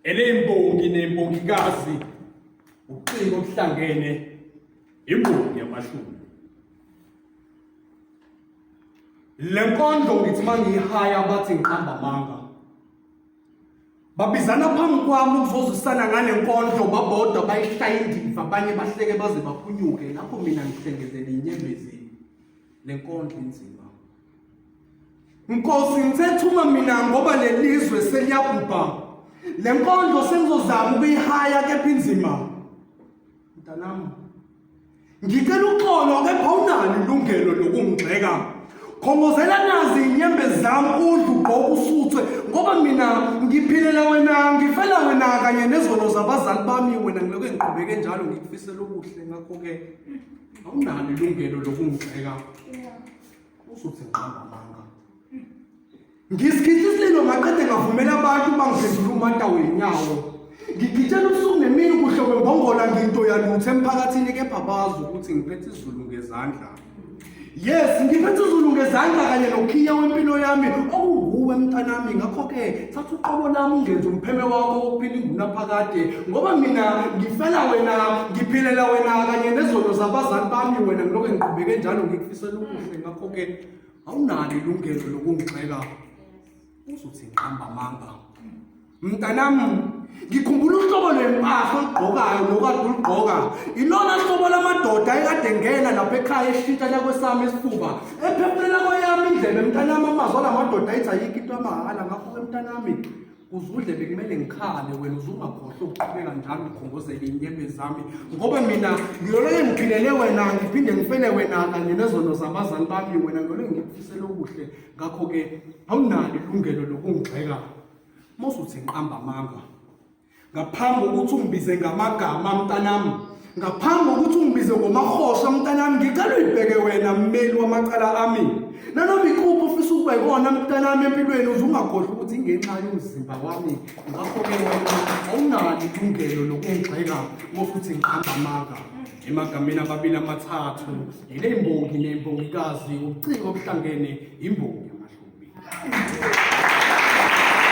eneyimbongi nembongikazi ucingo okuhlangene imbongi yamashumi le nkondlo ngithi uma ngiyihaya bathi ngiqamba amanga babizana phambi kwami ukuzozwisana ngale nkondlo babodwa bayishaya indiva abanye bahleke baze baphunyuke lapho mina ngihlengezele inyembezini le nkondlo inzima Nkosi ngithethuma mina ngoba lelizwe seliyabhubha lenkondlo sengizozama ukuyihaya kepha inzima mntanami ngicela uxolo kepha unalo ilungelo lokungigxeka khongozela nazi inyembe zami udlu ugqoka usuthwe ngoba mina ngiphilela wena ngifela wena kanye nezono zabazali bami wena ngiloko engiqhubeke njalo ngikufisela okuhle ngakho-ke awunalo ilungelo lokungigxeka uzothi ngiqamba amanga ngisikhihlisa lelo maqede ngavumela abantu bangiphendula umata wenyawo ngigitshela ubusuku nemini kuhle kwembongola nginto yalutho emphakathini kepha bazi ukuthi ngiphethe izulu ngezandla yes ngiphethe izulu ngezandla kanye nokhiya wempilo yami okunguwe mntanami ngakho-ke thatha uqobo lami ungenze umpheme wakho wokuphila ingunaphakade ngoba mina ngifela wena ngiphilela wena kanye nezono zabazali bami wena ngilokho ngiqhubeke njalo ngifisela okuhle ngakho ke awunalo ilungelo lokungixeka uzothi ngiqamba amanga mntanam ngikhumbula uhlobo lwempahla olugqokayo nokade ulugqoka ilona hlobo lamadoda ekade ngena lapha ekhaya eshintsha lakwesami isifuba ephefumela kweyami indlela emntanami amazwi alamadoda ayithi ayikho into amahhala ngakho ke mntanami uzudle bekumele ngikhale wena uzungakhohlwa ukuqhubeka njalo ngikhongozele inyembe zami ngoba mina ngiyolele ngiphilele wena ngiphinde ngifele wena kanye nezono zabazali bami wena ngiyolele ngikufisele okuhle ngakho-ke awunalo ilungelo lokungigxeka mose uthi nqamba amanga ngaphambi kokuthi ungibize ngamagama mntanami ngaphambi kokuthi ungibize ngomahosha mntanami ngicela uyibheke wena mmeli wamacala ami nanoma ikuphi ofisa ukuba ikona mntanami empilweni uze ungakhohlwa ukuthi ingenxa yomzimba wami ngakho-ke wena awunalo ilungelo lokungigxeka ngofuthi ngiqamba amanga emagameni ababili amathathu yile mbongi nembongikazi ubuciko obuhlangene imbongi yamahlubi